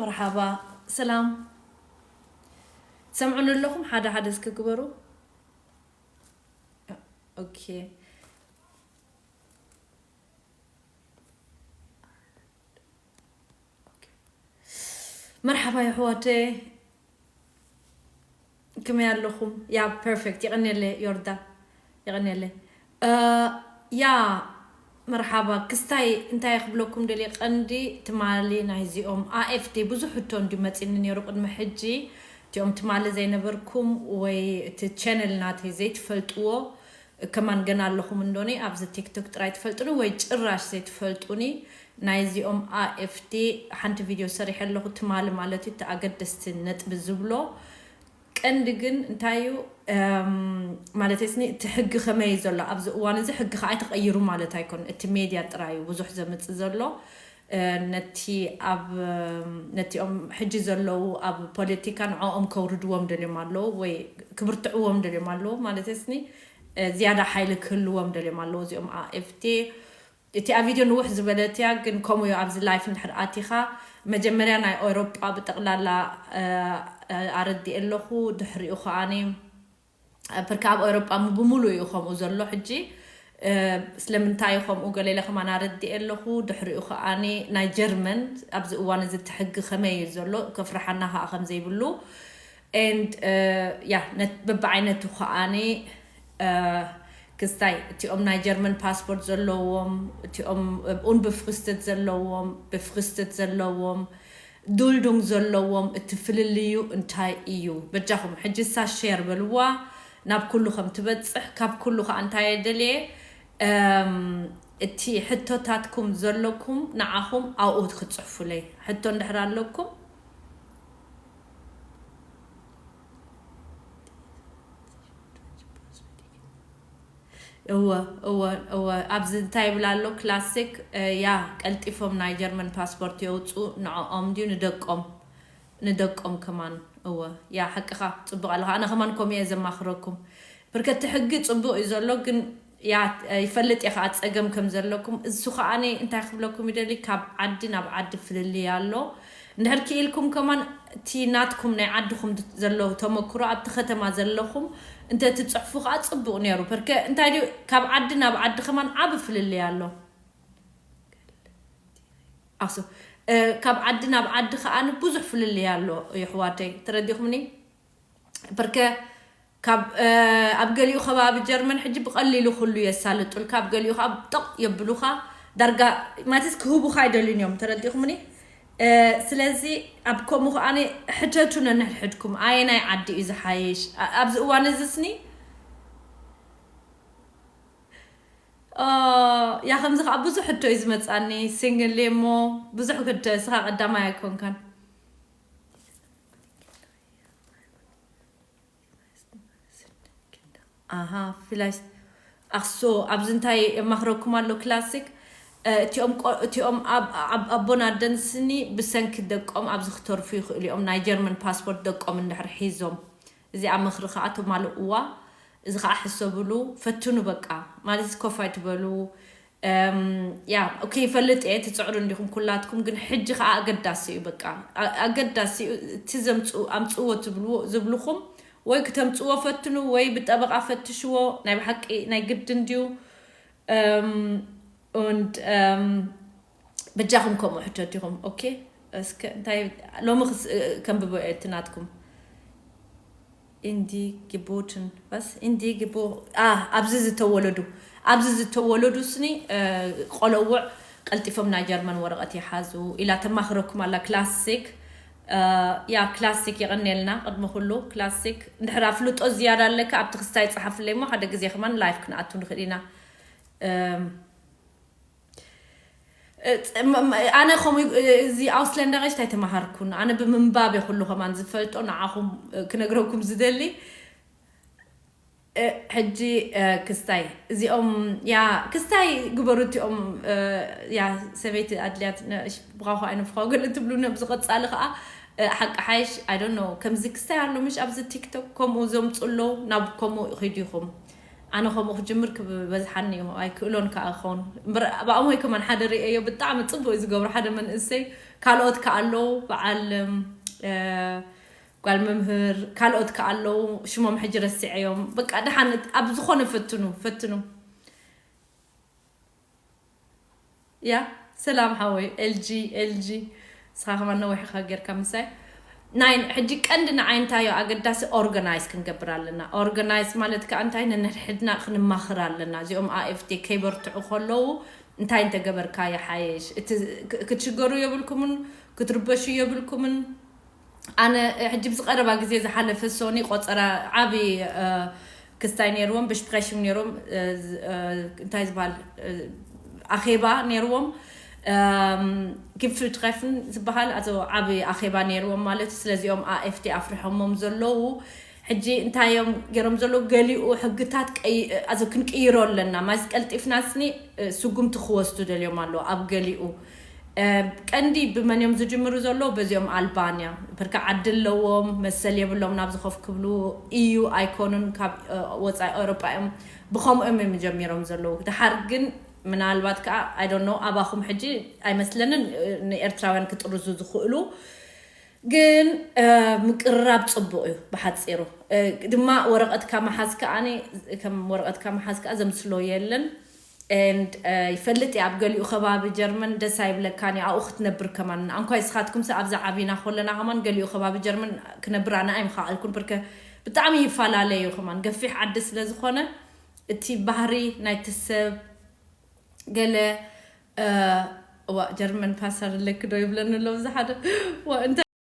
መርሓባ ስላም ትሰምዑኒ ኣለኹም ሓደ ሓደ እስኪ ግበሩ ኦኬ መርሓባ የሕዋተይ ክመይ ኣለኹም ያብ ፐርፌክት የቀንየለይ ዮርዳ የቀንየለይ ያ መርሓባ ክስታይ እንታይ ክብለኩም ደልየ ቀንዲ ትማሊ ናይዚኦም AFD ብዙሕ ሕቶ እንድዩ መጺኒ ኔሩ ቅድሚ ሕጂ እቲኦም ትማሊ ዘይነበርኩም ወይ እቲ ቸነል ናተይ ዘይትፈልጥዎ እከማን ገና ኣለኹም እንዶኒ ኣብዚ ቲክቶክ ጥራይ ትፈልጡኒ ወይ ጭራሽ ዘይትፈልጡኒ ናይ እዚኦም AFD ሓንቲ ቪድዮ ሰሪሐ ኣለኹ ትማሊ ማለት እዩ እቲ ኣገደስቲ ነጥቢ ዝብሎ ቀንዲ ግን እንታይ እዩ ማለተይ ስኒ እቲ ሕጊ ከመይ እዩ ዘሎ ኣብዚ እዋን እዚ ሕጊ ከዓ ኣይተቐይሩ ማለት ኣይኮን እቲ ሜድያ ጥራይ እዩ ብዙሕ ዘምፅእ ዘሎ ነቲ ኣብ ነቲኦም ሕጂ ዘለዉ ኣብ ፖለቲካ ንዕኦም ከውርድዎም ደልዮም ኣለዉ ወይ ክብርትዕዎም ደልዮም ኣለዉ ማለተስኒ ዝያዳ ሓይሊ ክህልዎም ደልዮም ኣለዉ እዚኦም AFD እቲኣ ቪድዮ ንውሕ ዝበለት እያ ግን ከምኡ እዩ ኣብዚ ላይፍ እንድሕር ኣቲኻ መጀመርያ ናይ ኤውሮጳ ብጠቕላላ ኣረዲኤ ኣለኹ ድሕሪኡ ከኣ ብርክ ኣብ ኦሮጳ ምብሙሉ እዩ ከምኡ ዘሎ ሕጂ ስለምንታይ ከምኡ ገሌለ ከማን ኣረዲኤ ኣለኹ ድሕሪኡ ከኣ ናይ ጀርመን ኣብዚ እዋን እዚ እቲ ሕጊ ከመይ እዩ ዘሎ ከፍርሓና ከኣ ከም ዘይብሉ and ያ በብዓይነቱ ከኣ ክስታይ እቲኦም ናይ ጀርመን ፓስፖርት ዘለዎም እቲኦም ኡንብፍክስትት ዘለዎም ብፍክስትት ዘለዎም ዱልዱም ዘለዎም እቲ ፍልልዩ እንታይ እዩ በጃኹም ሕጂሳ ሼር በልዋ ናብ ኩሉ ከም ትበጽሕ ካብ ኩሉ ከኣ እንታይ እየ ደልየ እም እቲ ሕቶታትኩም ዘለኩም ንዓኹም ኣብኡ ክትጽሕፉለይ ሕቶ እንድሕር ኣለኩም እወ እወ እወ ኣብዚ እንታይ ይብል ኣሎ ክላሲክ እያ ቀልጢፎም ናይ ጀርመን ፓስፖርት የውጽኡ ንዖኦም ድዩ ንደቆም ንደቆም ከማን እወ እያ ሓቅኻ ጽቡቕ ኣለኻ ኣነ ከማን ከምኡ እየ ዘማኽረኩም ብርከ እቲ ሕጊ ጽቡቕ እዩ ዘሎ ግን እያ ይፈልጥ እየ ከኣ ጸገም ከም ዘለኩም እሱ ከኣ እንታይ ክብለኩም ይደሊ ካብ ዓዲ ናብ ዓዲ ፍልልይ ኣሎ እንድሕር ኪኢልኩም ከማን እቲ ናትኩም ናይ ዓድኹም ዘሎ ተመክሮ ኣብቲ ከተማ ዘለኹም እንተ ትጽሕፉ ከኣ ጽቡቅ ኔሩ ፐርከ እንታይ ድዩ ካብ ዓዲ ናብ ዓዲ ከማን ዓቢ ፍልልይ ኣሎ ኣሰ ካብ ዓዲ ናብ ዓዲ ከኣ ብዙሕ ፍልልይ ኣሎ የሕዋተይ ተረዲኹምኒ ፐርከ ካብ ኣብ ገሊኡ ከባቢ ጀርመን ሕጂ ብቐሊሉ ኩሉ የሳልጡልካ ኣብ ገሊኡ ከኣ ጠቕ የብሉኻ ዳርጋ ማለትስ ክህቡኻ ኣይደልዩን እዮም ተረዲእኹምኒ ስለዚ ኣብ ከምኡ ከኣ ሕተቱ ነንሕድሕድኩም ኣየናይ ዓዲ እዩ ዝሓይሽ ኣብዚ እዋን እዚስኒ ያ ከምዚ ከዓ ብዙሕ ሕቶ እዩ ዝመፃኒ ሲንግል እሞ ብዙሕ ክደ ስኻ ቀዳማይ ኣይኮንካን ኣሃ ፍላይ ኣክሶ ኣብዚ እንታይ የማኽረኩም ኣሎ ክላሲክ እቲኦም እቲኦም ኣቦን ኣደን ስኒ ብሰንኪ ደቆም ኣብዚ ክተርፉ ይኽእሉ እዮም ናይ ጀርመን ፓስፖርት ደቆም እንድሕር ሒዞም እዚኣ ምኽሪ ከዓ ተማልእዋ እዚ ከዓ ሕሰብሉ ፈትኑ በቃ ማለት ኮፍ ኣይትበሉ ያ ኦኬ ይፈልጥ እየ ትፅዕሩ እንዲኹም ኩላትኩም ግን ሕጂ ከዓ ኣገዳሲ እዩ በቃ ኣገዳሲ እዩ እቲ ዘምፅኡ ኣምፅዎ ትብልዎ ዝብልኹም ወይ ክተምፅዎ ፈትኑ ወይ ብጠበቃ ፈትሽዎ ናይ ብሓቂ ናይ ግድ እንድዩ und በጃኹም ከምኡ ሕተት ኢኹም ኦኬ እስከ እንታይ ሎሚ ከንብቦ እየ እቲ ናትኩም እንዲ ግቡትን ቫስ እንዲ ግቡ ኣህ ኣብዚ ዝተወለዱ ኣብዚ ዝተወለዱ ስኒ ቆሎውዕ ቀልጢፎም ናይ ጀርመን ወረቀት ይሓዙ ኢላ ተማኽረኩም ኣላ ክላሲክ ያ ክላሲክ የቀንየልና ቅድሚ ኩሉ ክላሲክ እንድሕር ኣፍልጦ ዝያዳ ኣለካ ኣብቲ ክስታይ ጸሓፍለይ እሞ ሓደ ግዜ ከማን ላይፍ ክንኣቱ ንኽእል ኢና። ኣነ ከምኡ እዚ ኣውስለንዳገሽት ኣይተማሃርኩን ኣነ ብምንባብ እየ ኩሉ ከማን ዝፈልጦ ንዓኹም ክነግረኩም ዝደሊ ሕጂ ክስታይ እዚኦም ያ ክስታይ ግበሩ እቲኦም ያ ሰበይቲ ኣድልያት ብኻኹ ኣይንፍኻ ገለ ትብሉ ነብዚ ቀፃሊ ከዓ ሓቂ ሓይሽ ኣይ ዶንት ኖ ከምዚ ክስታይ ኣሎ ምሽ ኣብዚ ቲክቶክ ከምኡ ዘምፁ ኣለዉ ናብ ከምኡ ኺዱ ኢኹም ኣነ ከምኡ ክጅምር ክበዝሓኒ እዩ ኣይክእሎን ከኣ ክኸውን እምበር ብኣሞይ ከማን ሓደ ርእየዮ ብጣዕሚ ጽቡቅ እዩ ዝገብሮ ሓደ መንእሰይ ካልኦት ከኣ ኣለዉ በዓል ጓል መምህር ካልኦት ከኣ ኣለዉ ሽሞም ሕጂ ረሲዐዮም በቃ ደሓን ኣብ ዝኾነ ፈትኑ ፈትኑ ያ ሰላም ሓወይ ኤልጂ ኤልጂ ንስኻ ከማን ነዊሕ ኢኻ ጌርካ ምሳይ ናይ ሕጂ ቀንዲ ንዓይ እንታይዮ ኣገዳሲ ኦርጋናይዝ ክንገብር ኣለና ኦርጋናይዝ ማለት ከኣ እንታይ ነንሕድና ክንማኽር ኣለና እዚኦም ኣኤፍቴ ከይበርትዑ ከለዉ እንታይ እንተገበርካ ይሓይሽ እቲ ክትሽገሩ የብልኩምን ክትርበሹ የብልኩምን ኣነ ሕጂ ብዚ ቀረባ ግዜ ዝሓለፈ ሶኒ ቆጸራ ዓቢ ክስታይ ነይርዎም ብሽፕሬሽን ነይሮም እንታይ ዝበሃል ኣኼባ ነይርዎም ግፍልትኸፍን ዝበሃል ኣቶ ዓቢ ኣኼባ ነይርዎም ማለት ስለዚኦም ኣኤፍቲ ኣፍርሖሞም ዘለዉ ሕጂ እንታይ እዮም ጌሮም ዘለዉ ገሊኡ ሕግታት ቀይ ክንቅይሮ ኣለና ማይስ ቀልጢፍና ስኒ ስጉምቲ ክወስዱ ደልዮም ኣለዉ ኣብ ገሊኡ ቀንዲ ብመን እዮም ዝጅምሩ ዘለዉ በዚኦም ኣልባንያ ብርካ ዓዲ ኣለዎም መሰል የብሎምን ኣብዚ ኮፍ ክብሉ ኢዩ ኣይኮኑን ካብ ወጻኢ ኤውሮጳ እዮም ብከምኡ እዮም እዮም ጀሚሮም ዘለዉ ደሓር ግን ምናልባት ከኣ ኣይ ዶንት ኖው ኣባኹም ሕጂ ኣይመስለንን ንኤርትራውያን ክጥርዙ ዝኽእሉ ግን ምቅርራብ ጽቡቅ እዩ ብሓጺሩ ድማ ወረቀትካ ምሓዝ ከኣ ከም ወረቀትካ ምሓዝ ከኣ ዘምስሎ የለን and ይፈልጥ እየ ኣብ ገሊኡ ከባቢ ጀርመን ደስ ኣይብለካን እዩ ኣብኡ ክትነብር ከማን ኣንኳይ እስኻትኩምሰ ኣብዛ ዓቢና ኮለና ከማን ገሊኡ ከባቢ ጀርመን ክነብር ኣነ ኣይምኻኣልኩን ብርከ ብጣዕሚ ይፈላለ እዩ ከማን ገፊሕ ዓዲ ስለ ዝኾነ እቲ ባህሪ ናይቲ ሰብ ገለ እእ እዋእ ጀርመን ፓሰር ኣለኪ ዶ ይብለኒ ኣሎ ብዝሓደ እዋእ እንታይ።